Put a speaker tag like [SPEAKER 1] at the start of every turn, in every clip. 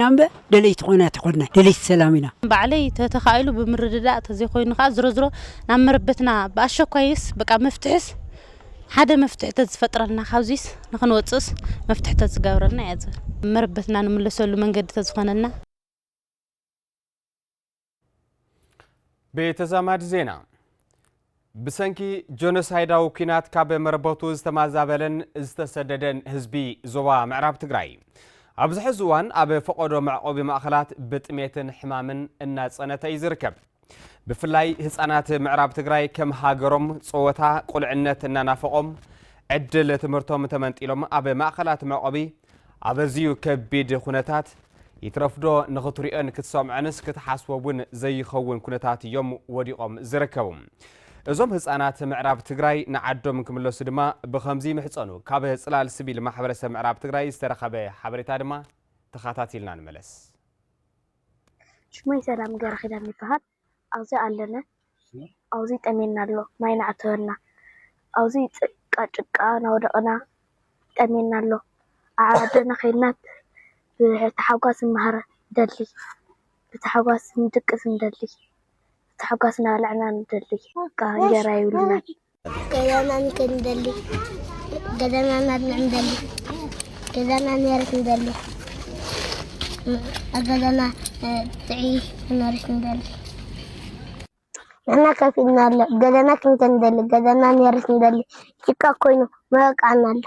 [SPEAKER 1] ኢና እምበ ደለይቲ ኮይና ኣይተኮድናይ ደለይቲ ሰላም ኢና። ባዕለይ ተተካኢሉ
[SPEAKER 2] ብምርድዳእ ተዘይኮይኑ ከኣ ዝሮዝሮ ናብ መረበትና ብኣሸኳይስ በቃ መፍትሕስ ሓደ መፍትሒ ተዝፈጥረልና ካብዚስ ንክንወጽእስ መፍትሒ ተዝገብረልና እየ ዝብል መረበትና ንምለሰሉ መንገዲ ተዝኮነልና።
[SPEAKER 3] ብተዛማዲ ዜና ብሰንኪ ጆኖሳይዳዊ ኩናት ካብ መረበቱ ዝተማዛበለን ዝተሰደደን ህዝቢ ዞባ ምዕራብ ትግራይ ኣብዚ ሕዚ እዋን ኣብ ፈቐዶ መዕቆቢ ማእኸላት ብጥሜትን ሕማምን እናፀነተ እዩ ዝርከብ ብፍላይ ህፃናት ምዕራብ ትግራይ ከም ሃገሮም ፀወታ ቁልዕነት እናናፈቖም ዕድል ትምህርቶም ተመንጢሎም ኣብ ማእኸላት መዕቆቢ ኣብ ኣዝዩ ከቢድ ኩነታት፣ ይትረፍዶ ንኽትሪኦን ክትሰምዖንስ ክትሓስቦ እውን ዘይኸውን ኩነታት እዮም ወዲቖም ዝርከቡ። እዞም ህፃናት ምዕራብ ትግራይ ንዓዶም ክምለሱ ድማ ብኸምዚ ይምሕፀኑ። ካብ ፅላል ስቪል ማሕበረሰብ ምዕራብ ትግራይ ዝተረኸበ ሓበሬታ ድማ ተኻታቲልና ንመለስ። ሽመይ
[SPEAKER 4] ሰላም ገረኪዳን ይበሃል ኣብዚ ኣለነ ኣብዚ ጠምየና ኣሎ ማይ ናዕተወና ኣብዚ ጭቃ ጭቃ ናወደቅና ጠምየና ኣሎ ኣብ ዓድና ከይድና ብታሓጓስ ንመሃር ንደሊ ብታሓጓስ ንድቅስ ንደሊ ብታሓጓስ ናበላዕና ንደሊ በቃ እንጀራ የብልናን
[SPEAKER 5] ገዛና ንክንደሊ ገዛና ናድና ንደሊ ገዛና ነርስ ንደሊ ኣብ ገዛና ጥዒ ነርስ ንደሊ ገና ከፍ ኢልና ኣሎ ገዛና ክንከ ንደሊ ገዛና ነርስ ንደሊ ጭቃ ኮይኑ መበቃና ኣሎ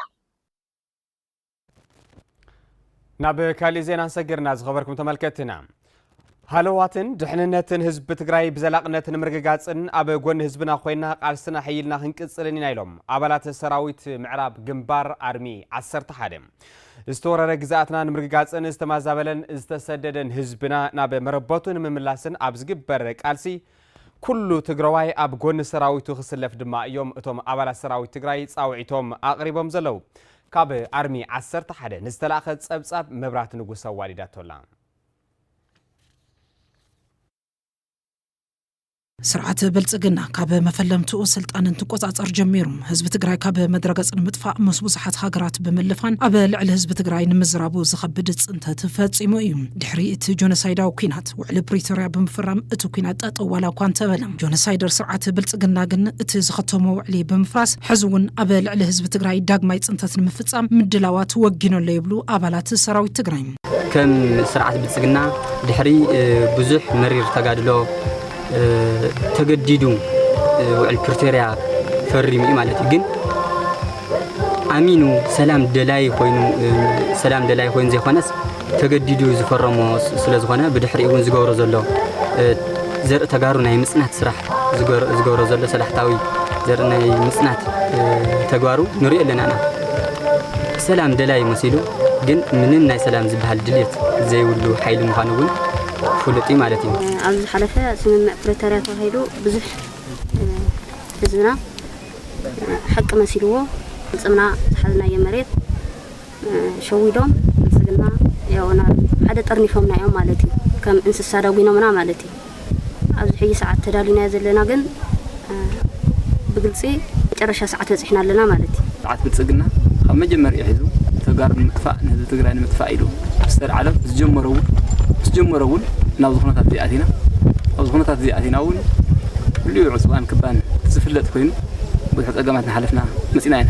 [SPEAKER 3] ናብ ካሊእ ዜና ሰጊርና ዝኸበርኩም ተመልከትና ሃለዋትን ድሕንነትን ህዝቢ ትግራይ ብዘላቕነት ንምርግጋፅን ኣብ ጎኒ ህዝብና ኮይና ቃልስና ሕይልና ክንቅፅልን ኢና ኢሎም ኣባላት ሰራዊት ምዕራብ ግንባር ኣርሚ 11 ዝተወረረ ግዛኣትና ንምርግጋፅን ዝተማዛበለን ዝተሰደደን ህዝብና ናብ መረበቱ ንምምላስን ኣብ ዝግበር ቃልሲ ኩሉ ትግራዋይ ኣብ ጎኒ ሰራዊቱ ክስለፍ ድማ እዮም እቶም ኣባላት ሰራዊት ትግራይ ፃውዒቶም ኣቕሪቦም ዘለዉ ካብ ኣርሚ ዓሰርተ ሓደ ንዝተላእከ ጸብጻብ መብራት ንጉስ ኣዋዲዳቶ'ላ።
[SPEAKER 6] ስርዓት ብልፅግና ካብ መፈለምትኡ ስልጣን እንትቆፃፀር ጀሚሩ ህዝቢ ትግራይ ካብ መድረገፅ ንምጥፋእ ምስ ብዙሓት ሃገራት ብምልፋን ኣብ ልዕሊ ህዝቢ ትግራይ ንምዝራቡ ዝኸብድ ፅንተት ፈፂሙ እዩ። ድሕሪ እቲ ጆኖሳይዳዊ ኲናት ህወሓት ውዕሊ ፕሪቶርያ ብምፍራም እቲ ኲናት ጠጠው ዋላ እኳ እንተበለ ጆኖሳይደር ስርዓት ብልፅግና ግን እቲ ዝኸተሞ ውዕሊ ብምፍራስ ሕዚ እውን ኣብ ልዕሊ ህዝቢ ትግራይ ዳግማይ ፅንተት ንምፍፃም ምድላዋት ወጊኑ ኣሎ ይብሉ ኣባላት ሰራዊት ትግራይ። ከም
[SPEAKER 7] ስርዓት ብልፅግና ድሕሪ ብዙሕ መሪር ተጋድሎ ተገዲዱ ውዕል ፕሪቶርያ ፈሪሙ እዩ ማለት እዩ ግን ኣሚኑ ሰላም ደላይ ኮይኑ ሰላም ደላይ ኮይኑ ዘይኮነስ ተገዲዱ ዝፈረሞ ስለዝኾነ ብድሕሪኡ እውን ዝገብሮ ዘሎ ዘርኢ ተጋሩ ናይ ምፅናት ስራሕ ዝገብሮ ዘሎ ሰላሕታዊ ዘርኢ ናይ ምፅናት ተግባሩ ንሪኦ ኣለና ኢና ሰላም ደላይ መሲሉ ግን ምንም ናይ ሰላም ዝበሃል ድልየት ዘይብሉ ሓይሊ ምዃኑ እውን ፍሉጥ እዩ ማለት እዩ ኣብ ዝሓለፈ
[SPEAKER 2] ስምምዕ ፕሪቶርያ ተባሂሉ ብዙሕ ህዝብና ሓቂ መሲልዎ ፍፅምና ዝሓዝናዮ መሬት ሸዊዶም ብልጽግና ያው ናብ ሓደ ጠርኒፎምና እዮም ማለት እዩ። ከም እንስሳ ዳጒኖምና ማለት እዩ። ኣብዚ ሕጂ ሰዓት ተዳሊናዮ ዘለና ግን ብግልጺ መጨረሻ ሰዓት በጺሕና ኣለና ማለት እዩ። ስርዓት ብልጽግና
[SPEAKER 7] ካብ መጀመርይኡ ሒዙ ተጋሩ ንምጥፋእ ንህዝቢ ትግራይ ንምጥፋእ ኢሉ ዝተልዓሎ ዝጀመሮ እውን ምስ ጀመሮ እውን ናብዚ ኩነታት እዚ ኣቲና ኣብዚ ኩነታት እዚ ኣቲና እውን ልዑል ዕፅዋን ክባን ዝፍለጥ ኮይኑ ብዙሕ ፀገማት ንሓለፍና መፂና ኢና።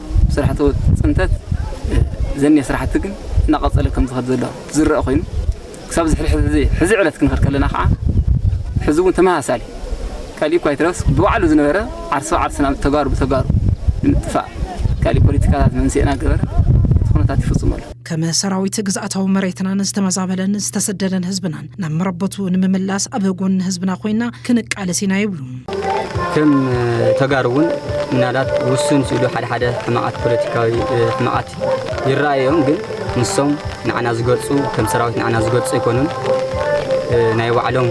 [SPEAKER 7] ስራሕቲ ፅንተት ዘኒሀ ስራሕቲ ግን እናቐፀለ ከም ዝኸድ ዘሎ ዝረአ ኮይኑ ክሳብ ዝሕሪ ሕዚ ሕዚ ዕለት ክንኸድ ከለና ከዓ ሕዚ እውን ተመሳሳሊ ካልእ እኳ ይትረስ ብባዕሉ ዝነበረ ዓርሲ ብዓርስና ተጋሩ ብተጋሩ ንምጥፋእ ካልእ ፖለቲካታት መንስኤ እናገበረ እቲ ኩነታት ይፍፅሙ ኣሎ ከም ሰራዊት
[SPEAKER 6] ግዝኣታዊ መሬትናን ዝተመዛበለን ዝተሰደደን ህዝብናን ናብ መረበቱ ንምምላስ ኣብ ጎኒ ህዝብና ኮይና ክንቃለስ ኢና ይብሉ። ከም
[SPEAKER 7] ተጋሩ እውን ምናልባት ውሱን ስእሉ ሓደ ሓደ ሕማቓት ፖለቲካዊ ሕማቓት ይረኣዩ እዮም ግን ንሶም ንዓና ዝገልፁ ከም ሰራዊት ንዓና ዝገልፁ ኣይኮኑን
[SPEAKER 8] ናይ ባዕሎም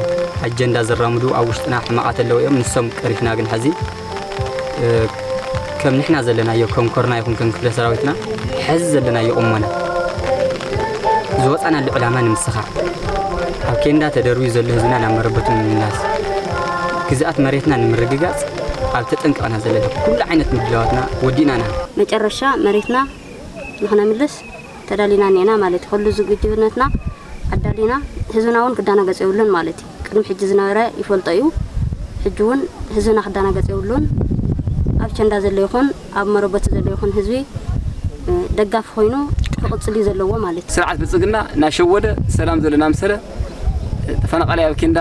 [SPEAKER 8] ኣጀንዳ ዘራምዱ ኣብ ውሽጥና ሕማቓት ኣለዉ እዮም ንሶም ቀሪፍና ግን ሕዚ ከም ንሕና ዘለናዮ ከም ኮርና ይኹን ከም ክፍለ ሰራዊትና ሐዚ ዘለናዮ ቁሞና ዝወፃናሉ ዕላማ ንምስኻዕ ኣብ ኬንዳ ተደርብዩ ዘሎ ህዝብና ናብ መረበቱ ንምምላስ ግዝኣት መሬትና ንምርግጋፅ ኣብ ተጠንቀቕና ዘለና ኩሉ ዓይነት ምድላዋትና ወዲእና ኢና። መጨረሻ መሬትና
[SPEAKER 2] ንክነምልስ ተዳሊና እኒኤና ማለት እዩ። ኩሉ ዝግጁነትና ኣዳሊና ህዝብና እውን ክደናገፅ የብሉን ማለት እዩ። ቅድሚ ሕጂ ዝነበረ ይፈልጦ እዩ ሕጂ ውን ህዝብና ክዳናገጽ የብሉን ኣብ ቸንዳ ዘሎ ይኹን ኣብ መረበቱ ዘሎ ይኹን ህዝቢ ደጋፊ ኮይኑ ክቕጽል እዩ ዘለዎ ማለት እዩ። ስርዓት ብልጽግና
[SPEAKER 7] ናሸወደ ሰላም ዘሎና ኣምሰለ ተፈናቃላይ ኣብ ኬንዳ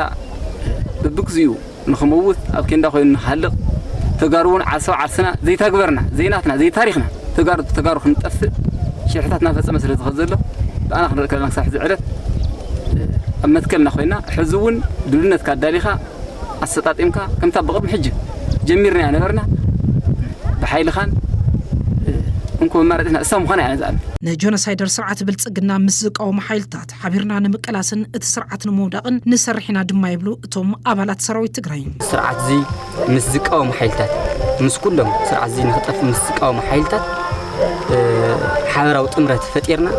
[SPEAKER 7] በብግዚኡ ንክመውት ኣብ ኬንዳ ኮይኑ ንክሃልቅ ተጋሩ ውን ዓርሰው ዓርስና ዘይታግበርና ዘይናትና ዘይታሪኽና ተጋሩ ተጋሩ ክንጠፍእ ሽርሕታት እናፈፀመ ስለ ዝኸ ዘሎ ብኣና ክንርኢ ከለና ክሳብ ሕዚ ዕለት ኣብ መትከልና ኮይና ሕዚ እውን ድልነትካ ኣዳሊኻ ኣሰጣጢምካ ከምታ ብቕድሚ ሕጂ ጀሚርና ኢና ነበርና ብሓይልኻን እንኮ መማረፂትና እሳ ምዃና ኢና ንዝኣምን ንጆኖሳይደር ስርዓት
[SPEAKER 6] ብልፅግና ምስ ዝቃወሙ ሓይልታት ሓቢርና ንምቅላስን እቲ ስርዓት ንምውዳቕን ንሰርሕ ኢና ድማ ይብሉ እቶም ኣባላት ሰራዊት ትግራይ። ስርዓትዚ
[SPEAKER 8] ምስ ዝቃወሙ ሓይልታት ምስ ኩሎም ስርዓትዚ ንክጠፍእ ምስ ዝቃወሙ ሓይልታት ሓበራዊ ጥምረት ፈጢርና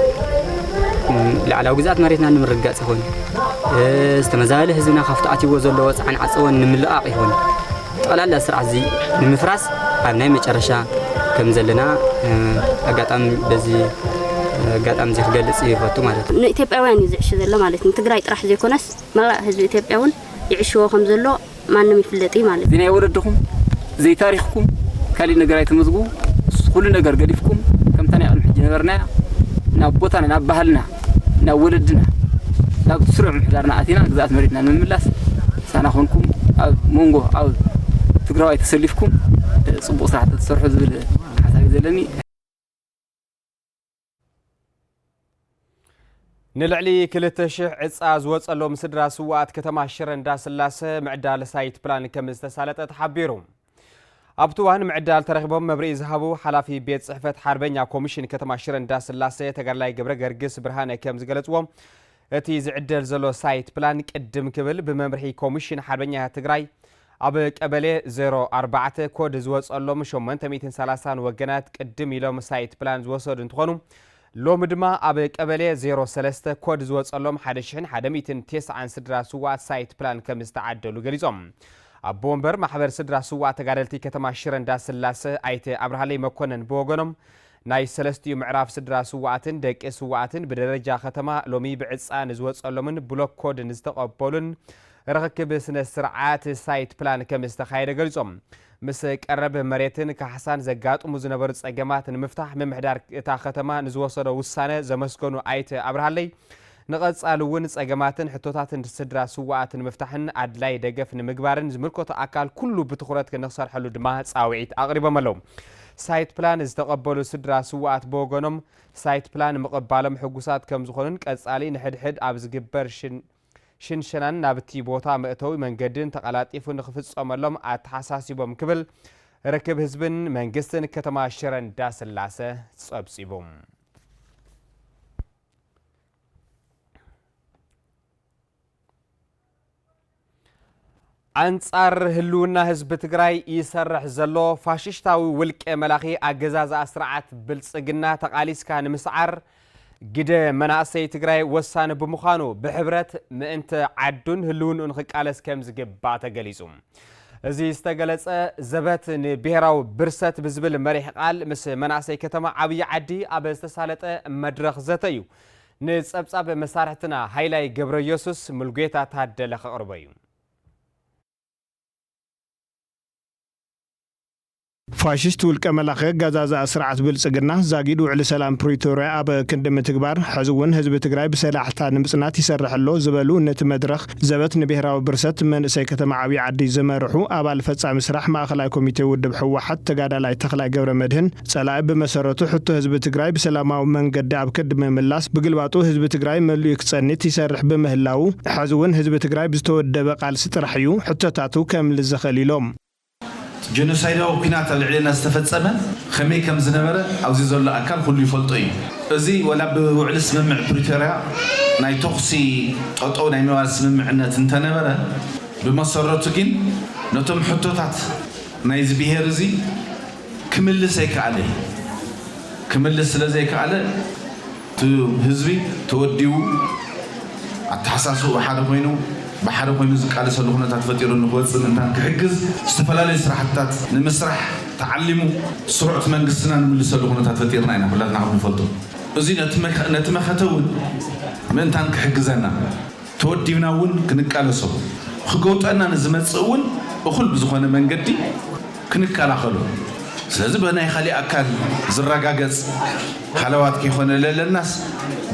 [SPEAKER 8] ላዕላዊ ግዝኣት መሬትና ንምርግጋፅ ይኹን ዝተመዛበለ ህዝብና ካብቲ ኣትይዎ ዘለዎ ፃዕን ዓፀቦን ንምልቓቕ ይኹን ጠቕላላ ስርዓት እዚ ንምፍራስ ኣብ ናይ መጨረሻ ከም ዘለና ኣጋጣሚ በዚ ኣጋጣሚ እዚ ክገልጽ ይፈቱ ማለት እዩ። ንኢትዮጵያውያን እዩ ዝዕሽ
[SPEAKER 2] ዘሎ ማለት እዩ። ንትግራይ ጥራሕ ዘይኮነስ መላእ ህዝቢ ኢትዮጵያ እውን ይዕሽዎ ከም ዘሎ ማንም ይፍለጥ እዩ ማለት እዩ። ዘይናይ ወለድኹም
[SPEAKER 7] ዘይታሪኽኩም ካሊእ ነገር ኣይተመዝግቡ ኩሉ ነገር ገዲፍኩም ከምታ ናይ ቅድሚ ሕጂ ዝነበርናያ ናብ ቦታና ናብ ባህልና ናብ ወለድና ናብ ስሩዕ ምሕዳርና ኣቲና ግዝኣት መሬትና ንምምላስ ሳና ኮንኩም ኣብ መንጎ ኣብ ትግራዋይ ተሰሊፍኩም ፅቡቅ ስራሕ ተሰርሑ ዝብል ሓሳብ እዩ ዘለኒ
[SPEAKER 3] ንልዕሊ ክልተ ሽሕ ዕፃ ዝወፀሎም ስድራ ስዋኣት ከተማ ሽረ እንዳስላሰ ምዕዳለ ሳይት ፕላን ከም ዝተሳለጠ ተሓቢሩ ኣብቲ እዋን ምዕዳል ተረኺቦም መብርሂ ዝሃቡ ሓላፊ ቤት ፅሕፈት ሓርበኛ ኮሚሽን ከተማ ሽረ እንዳስላሴ ተጋድላይ ገብረ ገርግስ ብርሃነ ከም ዝገለፅዎ እቲ ዝዕደል ዘሎ ሳይት ፕላን ቅድም ክብል ብመምርሒ ኮሚሽን ሓርበኛ ትግራይ ኣብ ቀበሌ 04 ኮድ ዝወፀሎም 830 ወገናት ቅድም ኢሎም ሳይት ፕላን ዝወሰዱ እንትኾኑ ሎሚ ድማ ኣብ ቀበሌ ዜሮ ሰለስተ ኮድ ዝወፀሎም ሓደ ሽሕን ሓደ ሚእትን ቴስዓን ስድራ ስውኣት ሳይት ፕላን ከምዝተዓደሉ ገሊፆም። ኣቦ ወንበር ማሕበር ስድራ ስውኣት ተጋደልቲ ከተማ ሽረ እንዳስላሰ ኣይተ ኣብርሃለይ መኮነን ብወገኖም ናይ ሰለስቲኡ ምዕራፍ ስድራ ስውኣትን ደቂ ስውኣትን ብደረጃ ከተማ ሎሚ ብዕፃ ንዝወፀሎምን ብሎክ ኮድ ንዝተቐበሉን ርኽክብ ስነ ስርዓት ሳይት ፕላን ከምዝተኻየደ ገሊፆም። ምስ ቀረብ መሬትን ካሕሳን ዘጋጥሙ ዝነበሩ ፀገማት ንምፍታሕ ምምሕዳር እታ ከተማ ንዝወሰዶ ውሳነ ዘመስገኑ ኣይተ ኣብርሃለይ፣ ንቐፃሊ እውን ፀገማትን ሕቶታትን ስድራ ስውኣት ንምፍታሕን ኣድላዪ ደገፍ ንምግባርን ዝምልከቶ ኣካል ኩሉ ብትኹረት ንክሰርሐሉ ድማ ፃውዒት ኣቕሪቦም ኣለው። ሳይት ፕላን ዝተቐበሉ ስድራ ስውኣት ብወገኖም፣ ሳይት ፕላን ምቕባሎም ሕጉሳት ከምዝኾኑን ቀፃሊ ንሕድሕድ ኣብ ዝግበር ሽን ሽንሸናን ናብቲ ቦታ መእተዊ መንገድን ተቐላጢፉ ንኽፍፀመሎም ኣተሓሳሲቦም ክብል ርክብ ህዝብን መንግስትን ከተማ ሽረ እንዳስላሰ ፀብፂቡ። ኣንፃር ህልውና ህዝቢ ትግራይ ይሰርሕ ዘሎ ፋሽሽታዊ ውልቀ መላኺ ኣገዛዝኣ ስርዓት ብልፅግና ተቓሊስካ ንምስዓር ግደ መናእሰይ ትግራይ ወሳኒ ብምዃኑ ብሕብረት ምእንቲ ዓዱን ህልውንኡን ክቃለስ ከም ዝግባእ ተገሊፁ። እዚ ዝተገለፀ ዘበት ንብሔራዊ ብርሰት ብዝብል መሪሕ ቃል ምስ መናእሰይ ከተማ ዓብዪ ዓዲ ኣብ ዝተሳለጠ መድረኽ ዘተ እዩ። ንፀብፃብ መሳርሕትና ሃይላይ ገብረየሱስ ሙልጌታ ታደለ ከቕርቦ እዩ።
[SPEAKER 9] ፋሽስት ውልቀ መላኺ ኣጋዛዝኣ ስርዓት ብልፅግና ዛጊድ ውዕሊ ሰላም ፕሪቶርያ ኣብ ክንዲ ምትግባር ሕዚ እውን ህዝቢ ትግራይ ብሰላሕታ ንምፅናት ይሰርሕ ኣሎ ዝበሉ ነቲ መድረኽ ዘበት ንብሄራዊ ብርሰት መንእሰይ ከተማ ዓብዪ ዓዲ ዝመርሑ ኣባል ፈፃሚ ስራሕ ማእኸላይ ኮሚቴ ውድብ ህወሓት ተጋዳላይ ተኽላይ ገብረመድህን ፀላኢ ብመሰረቱ ሕቶ ህዝቢ ትግራይ ብሰላማዊ መንገዲ ኣብ ከዲ ምምላስ ብግልባጡ ህዝቢ ትግራይ መሊኡ ክፀኒት ይሰርሕ ብምህላዉ ሐዚ እውን ህዝቢ ትግራይ ብዝተወደበ ቃልሲ ጥራሕ እዩ ሕቶታቱ ከምልስ ዝኽእል ኢሎም። እቲ
[SPEAKER 10] ጀኖሳይዳዊ ኲናት ኣብ ልዕሌና ዝተፈፀመ ከመይ ከም ዝነበረ ኣብዚ ዘሎ ኣካል ኹሉ ይፈልጦ እዩ። እዚ ዋላ ብውዕሊ ስምምዕ ፕሪቶርያ ናይ ተኹሲ ጠጠው ናይ ምባል ስምምዕነት እንተነበረ ብመሰረቱ ግን ነቶም ሕቶታት ናይዚ ብሄር እዚ ክምልስ ኣይከኣለ እዩ። ክምልስ ስለዘይከኣለ እቲ ህዝቢ ተወዲቡ ኣተሓሳስብኡ ሓደ ኮይኑ ብሓደ ኮይኑ ዝቃለሰሉ ኩነታት ፈጢሩ ንክወፅእ ምእንታን ክሕግዝ ዝተፈላለዩ ስራሕትታት ንምስራሕ ተዓሊሙ ስሩዕ እቲ መንግስትና ንምልሰሉ ኩነታት ፈጢርና ኢና ኩላትና ከምንፈልጦ እዙይ ነቲ መኸተ እውን ምእንታን ክሕግዘና ተወዲብና እውን ክንቃለሶ፣ ክገውጠና ንዝመጽእ እውን እኹል ብዝኾነ መንገዲ ክንከላኸሎ፣ ስለዚ ብናይ ካሊእ ኣካል ዝረጋገጽ ሃለዋት ከይኮነ ለለናስ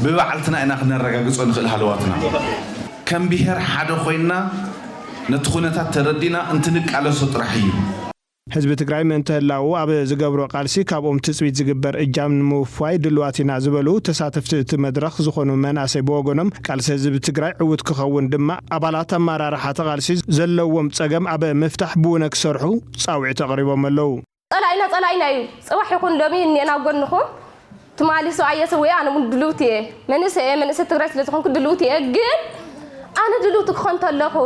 [SPEAKER 10] ብባዕልትና ኢና ክነረጋግጾ ንኽእል ሃለዋትና። ከም ብሄር ሓደ ኮይንና ነቲ ኩነታት ተረዲእና እንትንቃለሶ ጥራሕ እዩ። ህዝቢ ትግራይ
[SPEAKER 9] ምእንተ ህላወኡ ኣብ ዝገብሮ ቃልሲ ካብኦም ትፅቢት ዝግበር እጃም ንምውፋይ ድሉዋት ኢና ዝበሉ ተሳተፍቲ እቲ መድረኽ ዝኾኑ መናእሰይ ብወገኖም ቃልሲ ህዝቢ ትግራይ ዕውት ክኸውን ድማ ኣባላት ኣመራርሓ እቲ ቃልሲ ዘለዎም ፀገም ኣብ ምፍታሕ ብውነ ክሰርሑ ፃውዒት ኣቕሪቦም ኣለው። ፀላኢና ፀላኢና እዩ
[SPEAKER 11] ፅባሕ ይኹን ሎሚ እኒኤና ኣብ ጎንኹም። ትማሊ ሰብኣየ ሰዊኡ ኣነ ውን ድልውቲ እየ መንእሰይ እየ መንእሰይ ትግራይ ስለ ዝኾንኩ ድልውቲ እየ ግን ኣነ ድልውቲ ክኾን ተለኹ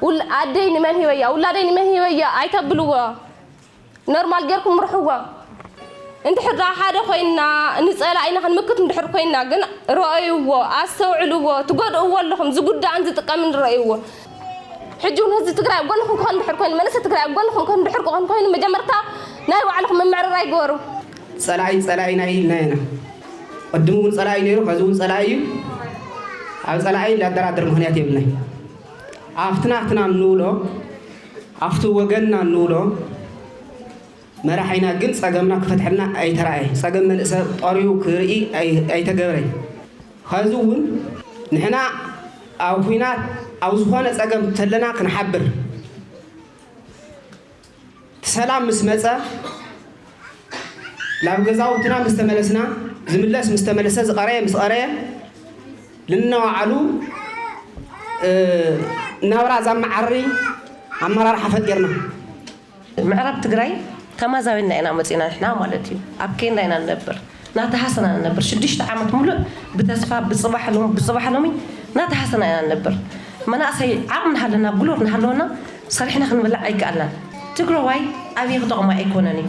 [SPEAKER 11] ውል ኣደይ ንመን ሂበያ ውላደይ ንመን ሂበያ ኣይተብልዎ ኖርማል ጌርኩም ምርሕዎ እንድሕር ዳ ሓደ ኮይንና ንፀላእ ኢና ክንምክት እንድሕር ኮይንና ግን ረኣይዎ ኣስተውዕልዎ ትጎድእዎ ኣለኹም ዝጉዳእን ዝጥቀምን ረኣይዎ ሕጂ እውን ህዝቢ ትግራይ ኣብ ጎንኹም ክኾን ድሕር ኮይኑ መንእሰይ ትግራይ ኣብ ጎንኹም ክኾን ድሕር ክኾን ኮይኑ መጀመርታ ናይ ባዕልኹም ምምዕርራይ ግበሩ። ፀላኢ ፀላኢና
[SPEAKER 12] እዩ ኢልና ኢና ቅድም እውን ፀላኢ ነይሩ ኸዚ እውን ፀላኢ እዩ ኣብ ፀላኢ ላደራደር ምኽንያት የብልናይ ኣብቲ ናትና እንብሎ ኣብቲ ወገንና እንብሎ መራሒና ግን ፀገምና ክፈትሐልና ኣይተራእየ ፀገም መንእሰ ጠሪዩ ክርኢ ኣይተገብረይ ኸዚ እውን ንሕና ኣብ ኹናት ኣብ ዝኾነ ፀገም ተለና ክንሓብር ሰላም ምስ መፀ ላብ ገዛውትና ምስ ተመለስና ዝምለስ ምስ ተመለሰ ዝቐረየ ምስ ቐረየ ልነዋዓሉ ናብራ ዛመዓሪ ኣመራርሓ ፈጢርና
[SPEAKER 13] ምዕራብ ትግራይ ተማዛቢልና ኢና መፂእና ንሕና ማለት እዩ ኣብ ኬንዳ ኢና ንነብር ናተሃሰና ንነብር ሽዱሽተ ዓመት ሙሉእ ብተስፋ ብፅባሕ ሎሚ ብፅባሕ ሎሚ ናተሃሰና ኢና ንነብር መናእሰይ ዓቅሚ ናሃለና ጉልበት ናሃለወና ሰሪሕና ክንበልዕ ኣይከኣልናን ትግረዋይ ኣብይ ክጠቅሞ ኣይኮነን እዩ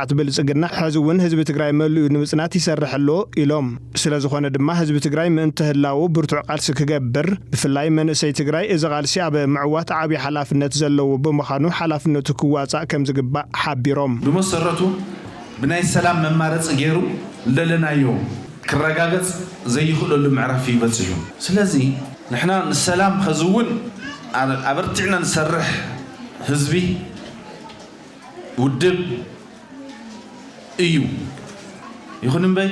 [SPEAKER 9] ስርዓት ብልፅግና ሐዚ እውን ህዝቢ ትግራይ መሊኡ ንምፅናት ይሰርሕ ኣሎ ኢሎም። ስለዝኾነ ድማ ህዝቢ ትግራይ ምእንተ ህላወኡ ብርቱዕ ቃልሲ ክገብር ብፍላይ መንእሰይ ትግራይ እዚ ቃልሲ ኣብ ምዕዋት ዓብዪ ሓላፍነት ዘለዎ ብምዃኑ ሓላፍነቱ ክዋፃእ ከምዝግባእ ሓቢሮም። ብመሰረቱ
[SPEAKER 10] ብናይ ሰላም መማረፂ ገይሩ ልደለናዮ ክረጋገፅ ዘይኽእለሉ ምዕራፍ እዩ በፂሑ። ስለዚ ንሕና ንሰላም ኸዚ እውን ኣበርቲዕና ንሰርሕ ህዝቢ። ውድብ እዩ ይኹን እምበይ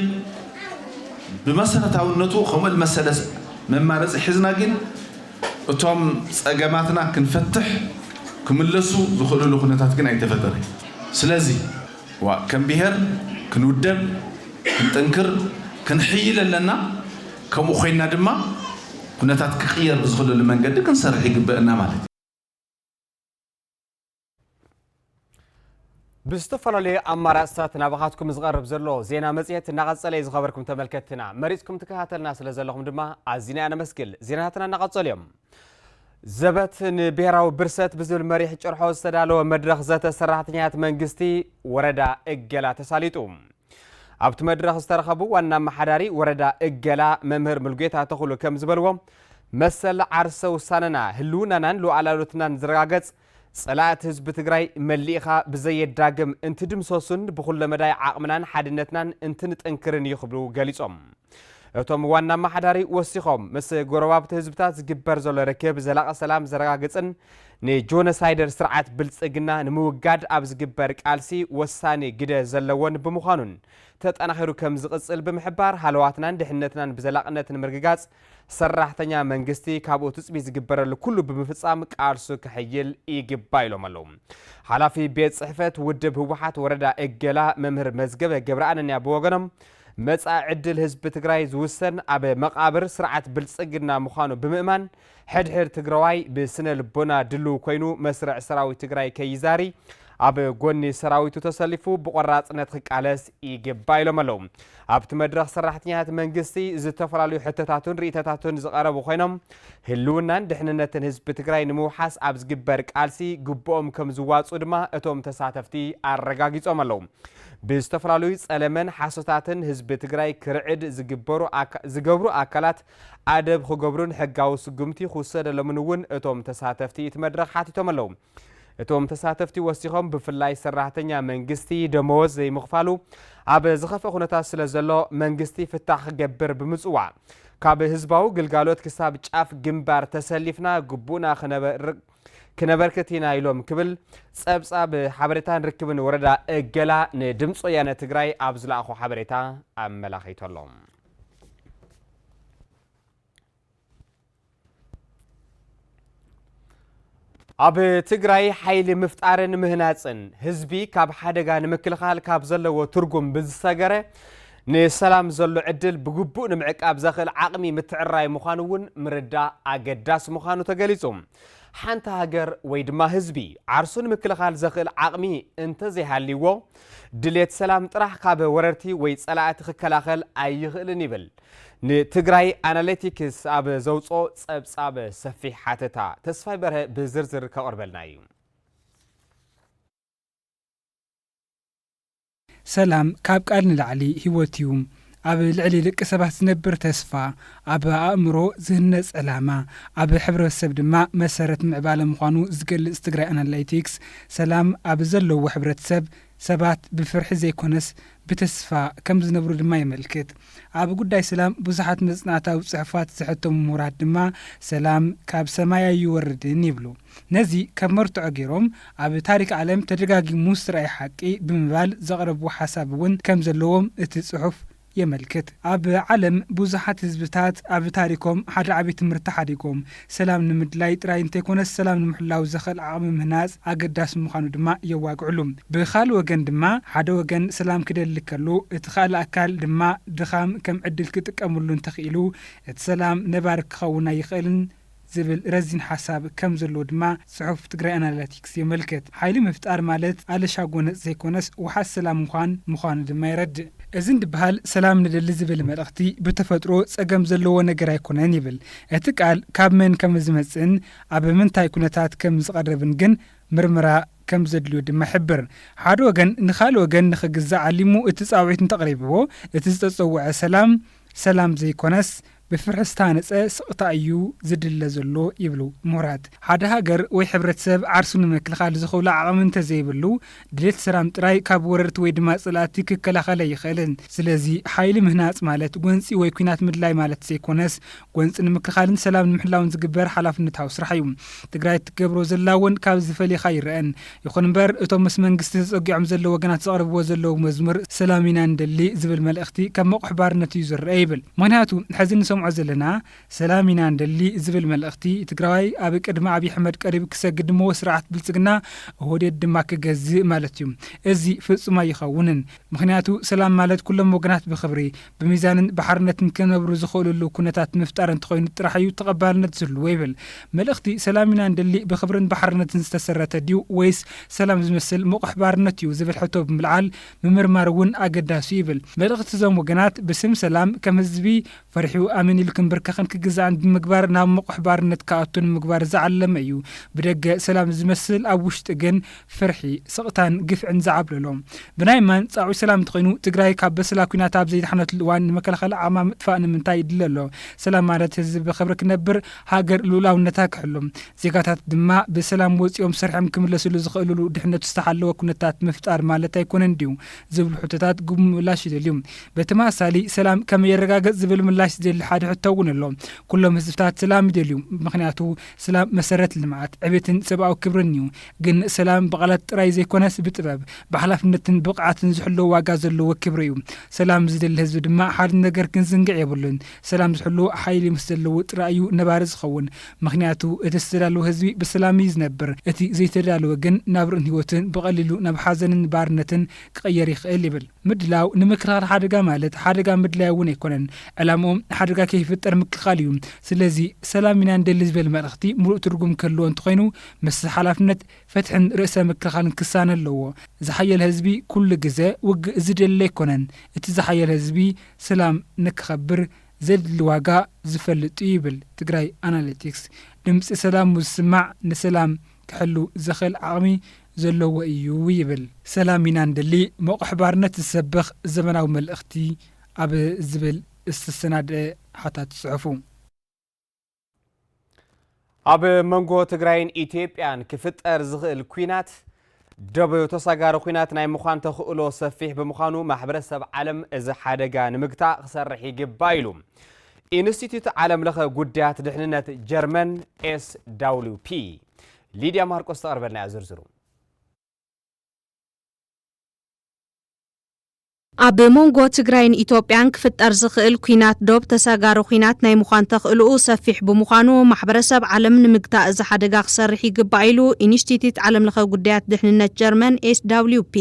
[SPEAKER 10] ብመሰረታውነቱ ከምኡ ልመሰለ መማረፂ ሒዝና ግን እቶም ፀገማትና ክንፈትሕ ክምለሱ ዝኽእልሉ ኩነታት ግን ኣይተፈጠረን ስለዚ ዋእ ከም ብሄር ክንውደብ ክንጥንክር ክንሕይል ኣለና ከምኡ ኮይንና ድማ ኩነታት ክቕየር ብዝኽእለሉ መንገዲ ክንሰርሕ ይግበእና ማለት እዩ።
[SPEAKER 3] ብዝተፈላለዩ ኣማራፅታት ናባኻትኩም ዝቐርብ ዘሎ ዜና መፅሄት እናቐፀለ እዩ ዝኸበርኩም ተመልከትና መሪፅኩም ትከታተልና ስለ ዘለኹም ድማ ኣዚና ኢና ነመስግል ዜናታትና እናቐፀሉ እዮም ዘበት ንብሔራዊ ብርሰት ብዝብል መሪሕ ጭርሖ ዝተዳለወ መድረኽ ዘተ ሰራሕተኛት መንግስቲ ወረዳ እገላ ተሳሊጡ ኣብቲ መድረኽ ዝተረኸቡ ዋና ኣመሓዳሪ ወረዳ እገላ መምህር ምልጌታ ተኽሉ ከም ዝበልዎ መሰል ዓርሰ ውሳነና፣ ህልውናናን ሉኣላውነትናን ዝረጋገፅ ፀላእቲ ህዝቢ ትግራይ መሊእኻ ብዘየዳግም እንትድምሰሱን ብኹለመዳይ ዓቕምናን ሓድነትናን እንትንጥንክርን እዩ ክብሉ ገሊፆም። እቶም ዋና ኣመሓዳሪ ወሲኾም ምስ ጎረባብቲ ህዝብታት ዝግበር ዘሎ ርክብ ዘላቒ ሰላም ዘረጋግፅን ንጆነሳይደር ስርዓት ብልፅግና ንምውጋድ ኣብ ዝግበር ቃልሲ ወሳኒ ግደ ዘለዎን ብምዃኑን ተጠናኺሩ ከምዝቕፅል ብምሕባር ሃለዋትናን ድሕነትናን ብዘላቕነት ንምርግጋፅ ሰራሕተኛ መንግስቲ ካብኡ ትፅቢት ዝግበረሉ ኩሉ ብምፍፃም ቃልሱ ከሕይል ይግባእ ኢሎም ኣለው። ሓላፊ ቤት ፅሕፈት ውድብ ህወሓት ወረዳ እገላ መምህር መዝገበ ገብረኣነንያ ብወገኖም መፃኢ ዕድል ህዝቢ ትግራይ ዝውሰን ኣብ መቓብር ስርዓት ብልፅግና ምዃኑ ብምእማን ሕድሕድ ትግራዋይ ብስነ ልቦና ድልው ኮይኑ መስርዕ ሰራዊት ትግራይ ከይዛሪ ኣብ ጎኒ ሰራዊቱ ተሰሊፉ ብቆራፅነት ክቃለስ ይግባእ ኢሎም ኣለው። ኣብቲ መድረኽ ሰራሕተኛታት መንግስቲ ዝተፈላለዩ ሕቶታቱን ርኢቶታቱን ዝቐረቡ ኮይኖም ህልውናን ድሕንነትን ህዝቢ ትግራይ ንምውሓስ ኣብ ዝግበር ቃልሲ ግቡኦም ከም ዝዋፅኡ ድማ እቶም ተሳተፍቲ ኣረጋጊፆም ኣለው። ብዝተፈላለዩ ፀለመን ሓሶታትን ህዝቢ ትግራይ ክርዕድ ዝግበሩ ዝገብሩ ኣካላት ኣደብ ክገብሩን ሕጋዊ ስጉምቲ ክውሰደሎምን እውን እቶም ተሳተፍቲ እቲ መድረኽ ሓቲቶም ኣለው። እቶም ተሳተፍቲ ወሲኾም ብፍላይ ሰራሕተኛ መንግስቲ ደመወዝ ዘይምኽፋሉ ኣብ ዝኸፍእ ኩነታት ስለ ዘሎ መንግስቲ ፍታሕ ክገብር ብምፅዋዕ ካብ ህዝባዊ ግልጋሎት ክሳብ ጫፍ ግንባር ተሰሊፍና ግቡእና ክነበርክት ኢና ኢሎም ክብል ፀብፃብ ሓበሬታን ርክብን ወረዳ እገላ ንድምፂ ወያነ ትግራይ ኣብ ዝለኣኾ ሓበሬታ ኣመላኺቱ ኣሎ። ኣብ ትግራይ ሓይሊ ምፍጣርን ምህናፅን ህዝቢ ካብ ሓደጋ ንምክልኻል ካብ ዘለዎ ትርጉም ብዝሰገረ ንሰላም ዘሎ ዕድል ብግቡእ ንምዕቃብ ዘኽእል ዓቕሚ ምትዕራይ ምዃኑ እውን ምርዳእ ኣገዳሲ ምዃኑ ተገሊጹ። ሓንቲ ሃገር ወይ ድማ ህዝቢ ዓርሱ ንምክልኻል ዘኽእል ዓቕሚ እንተዘይሃልይዎ ድሌት ሰላም ጥራሕ ካብ ወረርቲ ወይ ጸላእቲ ክከላኸል ኣይኽእልን ይብል ንትግራይ ኣናሊቲክስ ኣብ ዘውጽኦ ጸብጻብ ሰፊሕ ሓተታ ተስፋይ በርሀ ብዝርዝር ከቕርበልና እዩ።
[SPEAKER 14] ሰላም ካብ ቃል ንላዕሊ ህይወት እዩ። ኣብ ልዕሊ ደቂ ሰባት ዝነብር ተስፋ፣ ኣብ ኣእምሮ ዝህነፅ ዕላማ፣ ኣብ ሕብረተሰብ ድማ መሰረት ምዕባለ ምዃኑ ዝገልፅ ትግራይ ኣናላይቲክስ፣ ሰላም ኣብ ዘለዎ ሕብረተሰብ፣ ሰባት ብፍርሒ ዘይኮነስ ብተስፋ ከም ዝነብሩ ድማ የመልክት። ኣብ ጉዳይ ሰላም ብዙሓት መጽናዕታዊ ጽሑፋት ዘሐተሙ ምሁራት ድማ ሰላም ካብ ሰማይ ኣይወርድን ይብሉ። ነዚ ከም መርትዖ ገይሮም ኣብ ታሪክ ዓለም ተደጋጊሙ ዝተራእየ ሓቂ ብምባል ዘቕረብዎ ሓሳብ እውን ከም ዘለዎም እቲ ጽሑፍ የመልክት። ኣብ ዓለም ብዙሓት ህዝብታት ኣብ ታሪኮም ሓደ ዓቢ ትምህርቲ ሓዲጎም። ሰላም ንምድላይ ጥራይ እንተይኮነስ ሰላም ንምሕላው ዘኽእል ዓቕሚ ምህናጽ ኣገዳሲ ምዃኑ ድማ የዋግዕሉ። ብኻል ወገን ድማ ሓደ ወገን ሰላም ክደሊ ከሎ እቲ ኻልእ ኣካል ድማ ድኻም ከም ዕድል ክጥቀምሉ እንተኽኢሉ እቲ ሰላም ነባሪ ክኸውን ኣይኽእልን ዝብል ረዚን ሓሳብ ከም ዘለዎ ድማ ጽሑፍ ትግራይ ኣናላቲክስ የመልክት። ሓይሊ ምፍጣር ማለት ኣለሻ ጎነጽ ዘይኮነስ ውሓስ ሰላም ምዃን ምዃኑ ድማ የረድእ። እዚ እንድብሃል ሰላም ንደሊ ዝብል መልእኽቲ ብተፈጥሮ ጸገም ዘለዎ ነገር ኣይኮነን ይብል። እቲ ቃል ካብ መን ከም ዝመጽእን ኣብ ምንታይ ኩነታት ከም ዝቐርብን ግን ምርምራ ከም ዘድልዮ ድማ ይሕብር። ሓደ ወገን ንኻልእ ወገን ንኽግዛእ ዓሊሙ እቲ ጻውዒት እንተቕሪብዎ እቲ ዝተጸውዐ ሰላም ሰላም ዘይኮነስ ብፍርሒ ዝታሃነፀ ስቕታ እዩ ዝድለ ዘሎ ይብሉ ምሁራት። ሓደ ሃገር ወይ ሕብረተሰብ ዓርሱ ንምክልኻል ዝኽእሎ ዓቕሚ እንተዘይብሉ ድሌት ሰላም ጥራይ ካብ ወረርቲ ወይ ድማ ፀላእቲ ክከላኸል ኣይኽእልን። ስለዚ ሓይሊ ምህናፅ ማለት ጎንፂ ወይ ኲናት ምድላይ ማለት ዘይኮነስ ጎንፂ ንምክልኻልን ሰላም ንምሕላውን ዝግበር ሓላፍነታዊ ስራሕ እዩ። ትግራይ እትገብሮ ዘላ እውን ካብዚ ፈሊኻ ኣይረኣን። ይኹን እምበር እቶም ምስ መንግስቲ ተጸጊዖም ዘለዉ ወገናት ዘቕርብዎ ዘለዉ መዝሙር ሰላም ኢና ንደሊ ዝብል መልእኽቲ ከም መቑሕ ባርነት እዩ ዝረኣ ይብል። ምኽንያቱ ሕዚ እንሰምዖ ዘለና ሰላም ኢና ንደሊ ዝብል መልእኽቲ ትግራዋይ ኣብ ቅድሚ ኣብይ ኣሕመድ ቀሪቡ ክሰግድ ንመዎ ስርዓት ብልጽግና፣ ኦህዴድ፣ ድማ ክገዝእ ማለት እዩ። እዚ ፍጹም ኣይኸውንን። ምኽንያቱ ሰላም ማለት ኩሎም ወገናት ብኽብሪ፣ ብሚዛንን ብሓርነትን ክነብሩ ዝኽእሉሉ ኩነታት ምፍጣር እንተኾይኑ ጥራሕ እዩ ተቐባልነት ዝህልዎ ይብል። መልእኽቲ ሰላም ኢና ንደሊ ብኽብርን ብሓርነትን ዝተሰረተ ድዩ ወይስ ሰላም ዝመስል ምቑሕ ባርነት እዩ ዝብል ሕቶ ብምልዓል ምምርማር እውን ኣገዳሲ'ዩ ይብል። መልእኽቲ እዞም ወገናት ብስም ሰላም ከም ህዝቢ ፈሪሑ ኣሜን ኢሉ ክምብርከኽን ክግዛእን ብምግባር ናብ ምቑሕ ባርነት ክኣቱ ንምግባር ዝዓለመ እዩ። ብደገ ሰላም ዝመስል ኣብ ውሽጢ ግን ፍርሒ፣ ስቕታን ግፍዕን ዝዓብለሎ፣ ብናይ ማን ጻዑይ ሰላም እንተኾይኑ፣ ትግራይ ካብ በሰላ ኩናት ኣብ ዘይደሓነትሉ እዋን ንመከላኸሊ ዓቕማ ምጥፋእ ንምንታይ ይድለ ኣሎ? ሰላም ማለት ህዝቢ ብኽብሪ ክነብር፣ ሃገር ልኡላውነታ ክሕሉ፣ ዜጋታት ድማ ብሰላም ወጺኦም ሰሪሖም ክምለስሉ ዝኽእልሉ ድሕነቱ ዝተሓለወ ኩነታት ምፍጣር ማለት ኣይኮነን ድዩ? ዝብሉ ሕቶታት ግጉይ ምላሽ ይደልዩ። ብተመሳሳሊ ሰላም ከመይ ይረጋገጽ ዝብል ምላሽ ዝደሊ ሓደ ሕቶ እውን ኣሎ። ኩሎም ህዝብታት ሰላም ይደልዩ። ምኽንያቱ ሰላም መሰረት ልምዓት፣ ዕቤትን ሰብኣዊ ክብርን እዩ። ግን ሰላም ብቓላት ጥራይ ዘይኮነስ ብጥበብ፣ ብሓላፍነትን ብቕዓትን ዝሕሎ ዋጋ ዘለዎ ክብሪ እዩ። ሰላም ዝደሊ ህዝቢ ድማ ሓደ ነገር ክንዝንግዕ የብሉን። ሰላም ዝሕሉ ሓይሊ ምስ ዘለዎ ጥራይ እዩ ነባሪ ዝኸውን። ምኽንያቱ እቲ ዝተዳለወ ህዝቢ ብሰላም እዩ ዝነብር። እቲ ዘይተዳለወ ግን ናብርኡን ህይወቱን ብቐሊሉ ናብ ሓዘንን ባርነትን ክቕየር ይኽእል ይብል። ምድላው ንምክልኻል ሓደጋ ማለት ሓደጋ ምድላይ እውን ኣይኮነን። ዕላምኦም ሓደጋ ከይፍጠር ምክልኻል እዩ። ስለዚ ሰላም ኢና ንደሊ ዝበል መልእኽቲ ምሉእ ትርጉም ክህልዎ እንተኾይኑ ምስዚ ሓላፍነት ፍትሕን ርእሰ ምክልኻልን ክሳነ ኣለዎ። ዝሓየለ ህዝቢ ኩሉ ግዘ ውግእ ዝደሊ ኣይኮነን። እቲ ዝሓየለ ህዝቢ ስላም ንክኸብር ዘድሊ ዋጋ ዝፈልጥ እዩ ይብል ትግራይ ኣናሊቲክስ። ድምፂ ሰላም ሙዝስማዕ ንሰላም ክሕሉ ዘኽእል ዓቕሚ ዘለዎ እዩ ይብል። ሰላም ኢና ንደሊ ሞቕሕ ባርነት ዝሰብኽ ዘመናዊ መልእኽቲ ኣብ ዝብል ዝተሰናደኣ ሓታቲ ፅሑፉ።
[SPEAKER 3] ኣብ መንጎ ትግራይን ኢትዮጵያን ክፍጠር ዝኽእል ኩናት ደበዮ ተሳጋሪ ኩናት ናይ ምዃን ተኽእሎ ሰፊሕ ብምዃኑ ማሕበረሰብ ዓለም እዚ ሓደጋ ንምግታእ ክሰርሕ ይግባ ኢሉ ኢንስቲትዩት ዓለም ለኸ ጉዳያት ድሕንነት ጀርመን ኤስ ዳብሊው ፒ ሊድያ ማርቆስ ተቐርበልና ዝርዝሩ
[SPEAKER 15] ኣብ ሞንጎ ትግራይን ኢትዮጵያን ክፍጠር ዝኽእል ኲናት ዶብ ተሳጋሪ ኲናት ናይ ምዃን ተኽእሎኡ ሰፊሕ ብምዃኑ ማሕበረሰብ ዓለም ንምግታእ እዚ ሓደጋ ክሰርሕ ይግባእ ኢሉ ኢንስቲትዩት ዓለምለኸ ጉዳያት ድሕንነት ጀርመን፣ SWP።